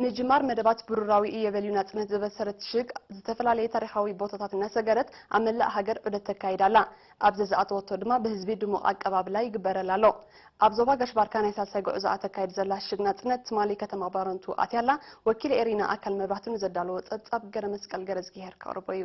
ንጅማር መደባት ብሩራዊ እየ በልዩ ናጽነት ዘበሰረት ሽግ ዝተፈላለየ ታሪኻዊ ቦታታት እናሰገረት ኣብ መላእ ሃገር ዑደት ተካይድ ኣላ። ኣብ ዘዝኣተወቶ ድማ ብህዝቢ ድሙቕ ኣቀባብላ ይግበረላ ኣሎ። ኣብ ዞባ ጋሽ-ባርካ ናይ ሳልሳይ ጉዕዞኣ ተካይድ ዘላ ሽግ ናጽነት ትማሊ ከተማ ባረንቱ ኣትያ ኣላ። ወኪል ኤሪና ኣካል መብራህቱ ንዘዳለዎ ጸብጻብ ገረመስቀል ገረዝጊሄር ከቕርቦ እዩ።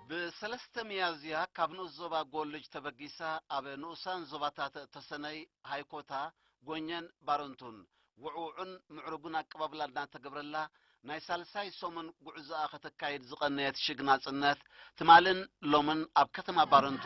ብ ሰለስተ ሚያዝያ ካብ ንኡስ ዞባ ጎልጅ ተበጊሳ ኣብ ንኡሳን ዞባታት ተሰነይ፣ ሃይኮታ፣ ጎኘን ባረንቱን ውዕዉዕን ምዕሩግን ኣቀባብላ እናተገብረላ ናይ ሳልሳይ ሰሙን ጉዕዞኣ ከተካይድ ዝቐነየት ሽግ ናጽነት ትማልን ሎምን ኣብ ከተማ ባረንቱ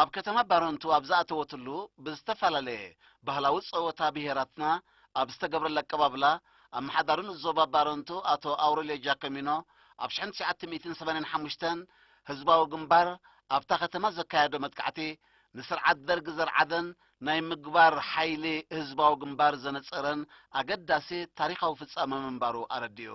ኣብ ከተማ ባረንቱ ኣብ ዝኣተወትሉ ብዝተፈላለየ ባህላዊ ጸወታ ብሄራትና ኣብ ዝተገብረላ ኣቀባብላ፣ ኣመሓዳሪ ንኡስ ዞባ ባረንቱ ኣቶ ኣውረልዮ ጃኮሚኖ፣ ኣብ ሽሕን ትሽዓተ ሚእትን ሰማንያን ሓሙሽተን ህዝባዊ ግንባር ኣብታ ከተማ ዘካየዶ መጥቃዕቲ፣ ንስርዓት ደርግ ዘርዓደን ናይ ምግባር ሓይሊ ህዝባዊ ግንባር ዘነጸረን ኣገዳሲ ታሪኻዊ ፍጻመ ምንባሩ ኣረዲኡ።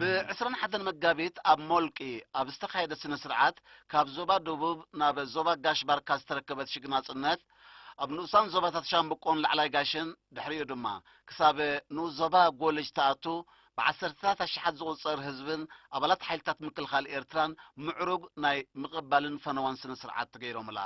ብዕስራን ሓደን መጋቢት ኣብ ሞልቂ ኣብ ዝተኻየደ ስነ ስርዓት ካብ ዞባ ደቡብ ናብ ዞባ ጋሽ ባርካ ዝተረከበት ሽግ ናጽነት ኣብ ንኡሳን ዞባታት ሻምብቆን ላዕላይ ጋሽን ድሕሪኡ ድማ ክሳብ ንኡስ ዞባ ጎልጅ ትኣቱ ብዓሰርተታት ኣሽሓት ዝቑጸር ህዝብን ኣባላት ሓይልታት ምክልኻል ኤርትራን ምዕሩግ ናይ ምቕባልን ፈነዋን ስነ ስርዓት ተገይሮምላ።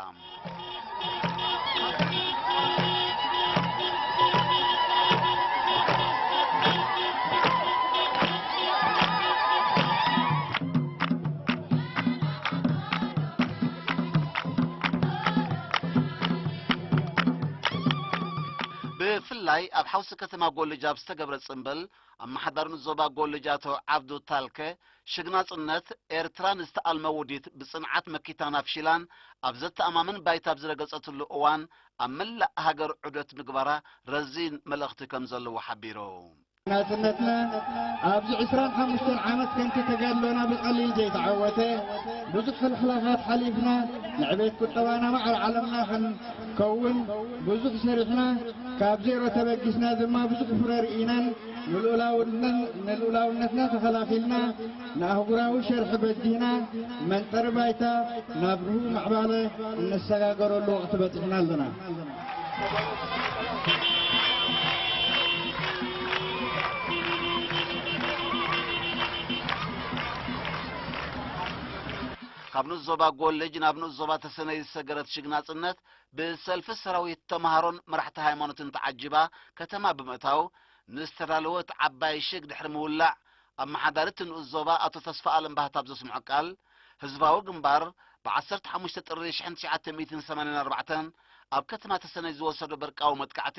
ዩኒቨርሲቲ ከተማ ጎልጅ ኣብ ዝተገብረ ጽምብል ኣመሓዳሪ ንዞባ ጎልጅ ኣቶ ዓብዱ ታልከ ሽግናጽነት ኤርትራ ንዝተኣልመ ውዲት ብጽንዓት መኪታን ኣፍሺላን ኣብ ዘተኣማምን ባይታ ኣብ ዝረገጸትሉ እዋን ኣብ መላእ ሃገር ዑደት ምግባራ ረዚን መልእኽቲ ከም ዘለዎ ሓቢሩ። ናጽነትና ኣብዚ ዕስራን ሓሙሽተን ዓመት ከምቲ ተጋድሎና ብቐሊል ዘይተዓወተ ብዙሕ ሕልሕላኻት ሓሊፍና ንዕቤት ቁጠባና ማዕረ ዓለምና ከውን ብዙሕ ሰሪሕና ካብ ዜሮ ተበጊስና ድማ ብዙሕ ፍረ ርኢናን ንልኡላውነትና ተኸላኺልና ንኣህጉራዊ ሸርሒ በዲህና መንጠሪ ባይታ ናብ ርሁው ምዕባለ እነሰጋገረሉ ወቕቲ በፂሕና ኣለና። ካብ ንኡስ ዞባ ጎልጅ ናብ ንኡስ ዞባ ተሰነይ ዝሰገረት ሽግናጽነት ብሰልፊ ሰራዊት ተምሃሮን መራሕቲ ሃይማኖትን ተዓጂባ ከተማ ብምእታው ንዝተዳለወት ዓባይ ሽግ ድሕሪ ምውላዕ ኣመሓዳሪ እቲ ንኡስ ዞባ ኣቶ ተስፋኣለም ባህታ ኣብ ዘስምዖ ቃል ህዝባዊ ግንባር ብ ዓሰርተ ሓሙሽተ ጥሪ ሽሕን ትሽዓተ ሚእትን ሰማንያን ኣርባዕተን ኣብ ከተማ ተሰነይ ዝወሰዶ በርቃዊ መጥቃዕቲ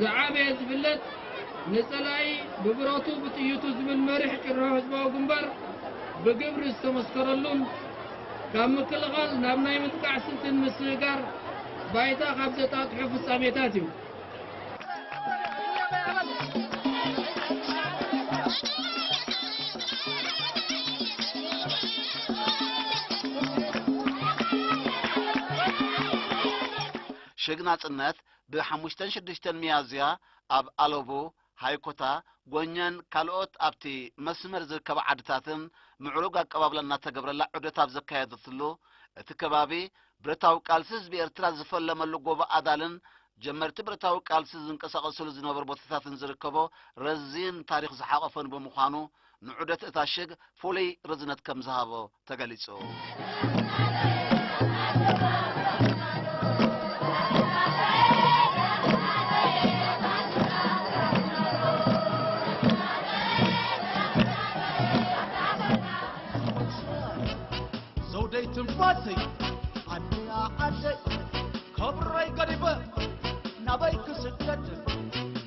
ዝዓበየ ዝብለጽ ንጸላኢ ብብረቱ ብጥይቱ ዝብል መሪሕ ጭርሖ ህዝባዊ ግንባር ብግብሪ ዝተመስከረሉን ካብ ምክልኻል ናብ ናይ ምጥቃዕ ስልትን ምስግጋር ባይታ ካብ ዘጣጥሑ ፍጻሜታት እዩ። ሽግ ናጽነት ብ ሓሙሽተን ሽዱሽተን ሚያዝያ ኣብ ኣለቡ፣ ሃይኮታ፣ ጎኘን ካልኦት ኣብቲ መስመር ዝርከባ ዓድታትን ምዕሩግ ኣቀባብላ እናተገብረላ ዑደት ኣብ ዘካየደትሉ እቲ ከባቢ ብረታዊ ቃልሲ ህዝቢ ኤርትራ ዝፈለመሉ ጎቦ ኣዳልን ጀመርቲ ብረታዊ ቃልሲ ዝንቀሳቐስሉ ዝነበሩ ቦታታትን ዝርከቦ ረዚን ታሪኽ ዝሓቖፈን ብምዃኑ ንዑደት እታ ሽግ ፍሉይ ርዝነት ከምዝሃቦ ተገሊፁ። ዘውደይ ትንፋሰይ ኣደያ ዓደይ ከብረይ ገዲፈ ናበይ ክስደድ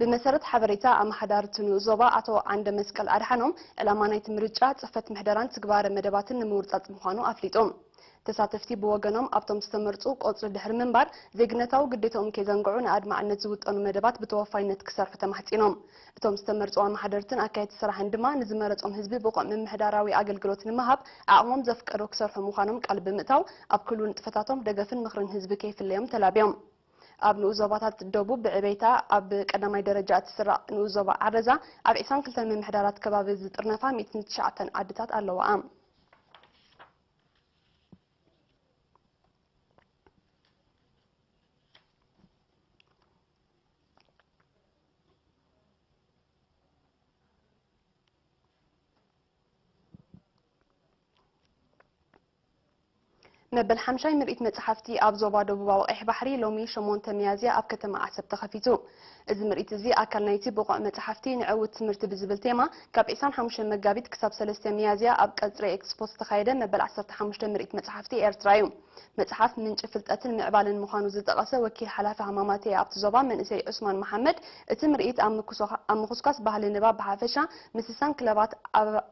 ብመሰረት ሓበሬታ ኣመሓዳርቲ ንኡስ ዞባ ኣቶ ዓንደመስቀል ኣድሓኖም፣ ዕላማ ናይቲ ምርጫ፣ ጽፈት ምሕደራን ትግባረ መደባትን ንምውርጻጽ ምዃኑ ኣፍሊጦም። ተሳተፍቲ ብወገኖም፣ ኣብቶም ዝተመርጹ ቆጽሊ ድሕሪ ምንባር፣ ዜግነታዊ ግዴትኦም ከይዘንግዑ ንኣድማዕነት ዝውጠኑ መደባት ብተወፋይነት ክሰርሑ ተማሕጺኖም። እቶም ዝተመርጹ ኣመሓደርትን ኣካየድቲ ስራሕን ድማ፣ ንዝመረጾም ህዝቢ ብቑዕ ምምሕዳራዊ ኣገልግሎት ንምሃብ ዓቕሞም ዘፍቀዶ ክሰርሑ ምዃኖም ቃል ብምእታው፣ ኣብ ክሉ ንጥፈታቶም ደገፍን ምኽርን ህዝቢ ከይፍለዮም ተላብዮም። ኣብ ንኡስ ዞባታት ደቡብ ብዕቤታ ኣብ ቀዳማይ ደረጃ እትስራዕ ንኡስ ዞባ ዓረዛ፣ ኣብ ዕስራን ክልተን ምምሕዳራት ከባቢ ዝጥርነፋ ሚእትን ትሽዓተን ዓድታት ኣለዋኣ። መበል ሓምሻይ ምርኢት መፅሓፍቲ ኣብ ዞባ ደቡባዊ ቀይሕ ባሕሪ ሎሚ ሸሞንተ ሚያዝያ ኣብ ከተማ ዓሰብ ተኸፊቱ። እዚ ምርኢት እዚ ኣካል ናይቲ ብቑዕ መፅሓፍቲ ንዕውት ትምህርቲ ብዝብል ቴማ ካብ ዒስራን ሓሙሽተን መጋቢት ክሳብ ሰለስተ ሚያዝያ ኣብ ቀፅሪ ኤክስፖ ዝተኻየደ መበል ዓሰርተ ሓሙሽተ ምርኢት መፅሓፍቲ ኤርትራ እዩ። መፅሓፍ ምንጪ ፍልጠትን ምዕባለን ምዃኑ ዝጠቐሰ ወኪል ሓላፊ ሃማማተኤ ኣብቲ ዞባ መንእሰይ ዑስማን መሓመድ፣ እቲ ምርኢት ኣብ ምኹስኳስ ባህሊ ንባብ ብሓፈሻ፣ ምስሳን ክለባት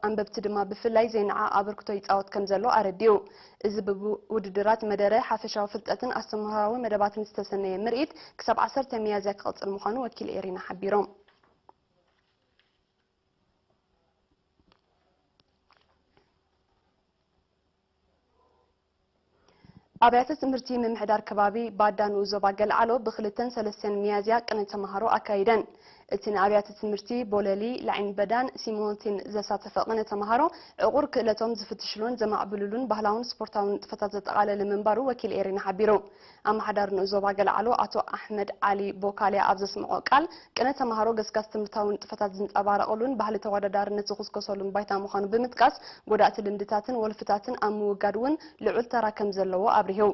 ኣንበብቲ ድማ ብፍላይ ዘይነዓቕ ኣበርክቶ ይፃወት ከምዘሎ ኣረዲኡ። እዚ ብውድድራት መደረ፣ ሓፈሻዊ ፍልጠትን ኣስተምህሮኣዊ መደባትን ዝተሰነየ ምርኢት ክሳብ ዓሰርተ ሚያዝያ ክቕፅል ምዃኑ ወኪል ኤሪና ሓቢሮም። ኣብያተ ትምህርቲ ምምሕዳር ከባቢ ባዳ ንኡስ ዞባ ገልዓሎ ብክልተን ሰለስተን ሚያዝያ ቅነ ተምሃሮ ኣካይደን። እቲ ንኣብያተ ትምህርቲ ቦለሊ፣ ላይን በዳን ሲሞንቲን ዘሳተፈ ቅነ ተምሃሮ ዕቑር ክእለቶም ዝፍትሽሉን ዘማዕብልሉን ባህላውን ስፖርታውን ንጥፈታት ዘጠቓለለ ምንባሩ ወኪል ኤሪና ሓቢሩ። ኣመሓዳሪ ንኡስ ዞባ ገለዓሎ ኣቶ ኣሕመድ ዓሊ ቦካልያ ኣብ ዘስመዖ ቃል፣ ቅነ ተመሃሮ ገስጋስ ትምህርታዊ ንጥፈታት ዝንጸባረቐሉን ባህሊ ተወዳዳርነት ዝኹስኮሰሉን ባይታ ምዃኑ ብምጥቃስ፣ ጎዳእቲ ልምድታትን ወልፍታትን ኣብ ምውጋድ እውን ልዑል ተራ ከምዘለዎ ኣብሪሁ።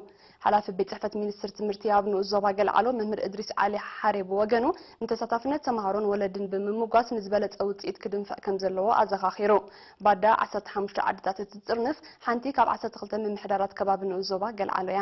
ሓላፊ ቤት ጽሕፈት ሚኒስትሪ ትምህርቲ ኣብ ንኡስ ዞባ ገለዓሎ መምህር እድሪስ ዓሊ ሓሬ ብወገኑ፣ ንተሳታፍነት ተመሃሮን ወለድን ብምምጓስ ንዝበለጸ ውጽኢት ክድንፍዕ ከምዘለዎ ኣዘኻኺሩ። ባዳ ዓሰርተ ሓሙሽተ ዓድታት እትጥርንፍ ሓንቲ ካብ ዓሰርተ ክልተ ምምሕዳራት ከባቢ ንኡስ ዞባ ገለዓሎ እያ።